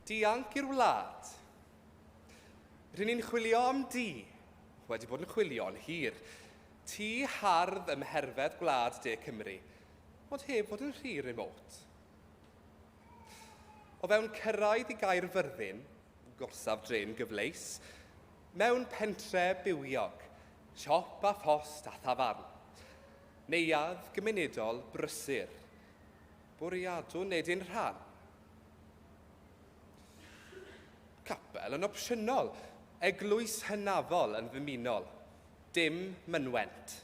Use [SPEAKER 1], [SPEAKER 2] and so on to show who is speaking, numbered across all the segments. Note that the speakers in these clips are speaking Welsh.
[SPEAKER 1] Dianc i'r wlad. R'yn ni'n chwilio am dŷ. Wedi bod yn chwilio'n hir. Tŷ hardd ym mherfedd gwlad de Cymru, ond heb fod yn rhy remote. O fewn cyrraedd i Gaerfyrddin, gorsaf drên gyfleus, mewn pentre bywiog, siop a phost a thafarn. Neuadd gymunedol brysur. Bwriadwn wneud ein rhan, Capel yn opsiynol, eglwys hynafol yn ddymunol, dim mynwent.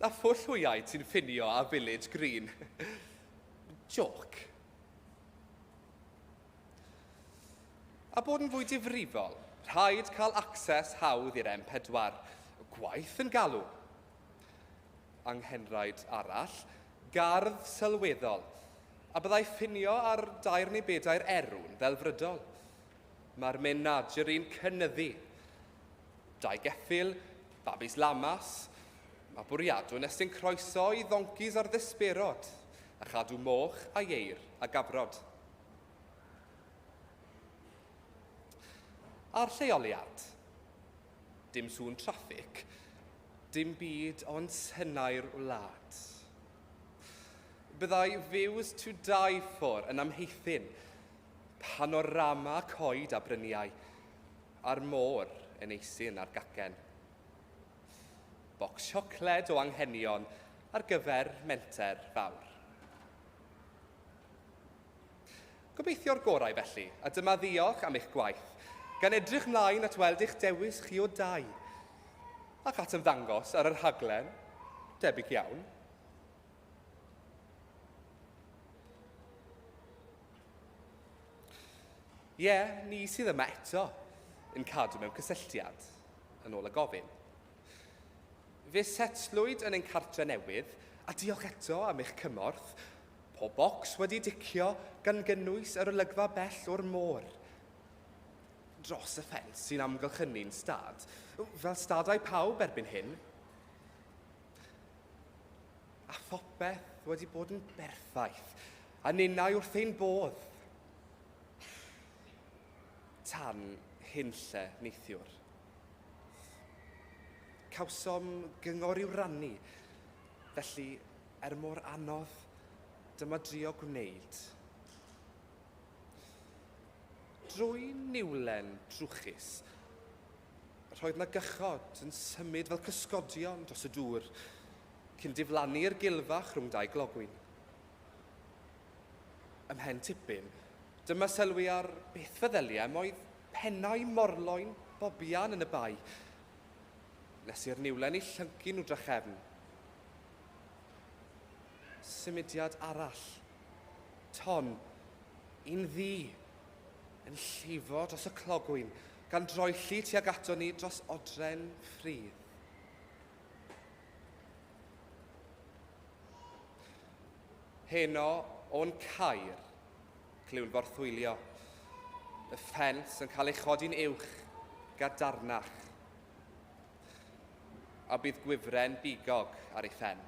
[SPEAKER 1] A phwll hwyaid sy'n ffinio â Village Green. Jôc. A bod yn fwy difrifol, rhaid cael access hawdd i'r M4, gwaith yn galw. Anghenraid arall, gardd sylweddol, A byddai ffinio ar dair neu bedair erw'n ddelfrydol? Mae'r menaderi'n cynyddu. Dau geffyl, babis lamas, mae bwriadw'n estyn croeso i ddoncis ar ddesberod, a chadw moch a ieir a gafrod. A'r lleoliad? Dim sŵn traffig, dim byd ond tenau'r wlad. Byddai Views to Die For yn amheithyn panorama coed a bryniau a'r môr yn eisyn ar gacen. Bocs siocled o anghenion ar gyfer menter fawr. Gobeithio'r gorau felly, a dyma ddiolch am eich gwaith, gan edrych mlaen at weld eich dewis chi o dai, ac at ymddangos ar y rhaglen, debyg iawn. Ie, yeah, ni sydd yma eto yn cadw mewn cysylltiad, yn ôl y gofyn. Fe setlwyd yn ein cartre newydd, a diolch eto am eich cymorth, Pob bocs wedi ticio gan gynnwys yr olygfa bell o'r môr dros y ffens sy'n amgylchynu'n stad, fel stadau pawb erbyn hyn. A phopeth wedi bod yn berffaith, a ninnau wrth ein bodd. Tan hyn lle, neithiwr. Cawsom gyngor i'w rannu, Felly, er mor anodd, dyma drio gwneud. Drwy niwlen trwchus, roedd na gychod yn symud fel cysgodion dros y dŵr, cyn diflannu i'r gilfach rhwng dau glogwyn. Ymhen tipyn, dyma sylwi ar beth feddyliai am oedd pennau morloyn bobian yn y bae, Nes i'r niwlen i llyncu nhw drachefn. Symudiad arall. Ton, un ddu, yn llifo dros y clogwyn, gan droelli tuag ato ni dros odren ffridd. Heno o'n cair. Clywn borthwylio. Y ffens yn cael ei chodi'n uwch, gadarnach. A bydd gwifren bigog ar ei phen.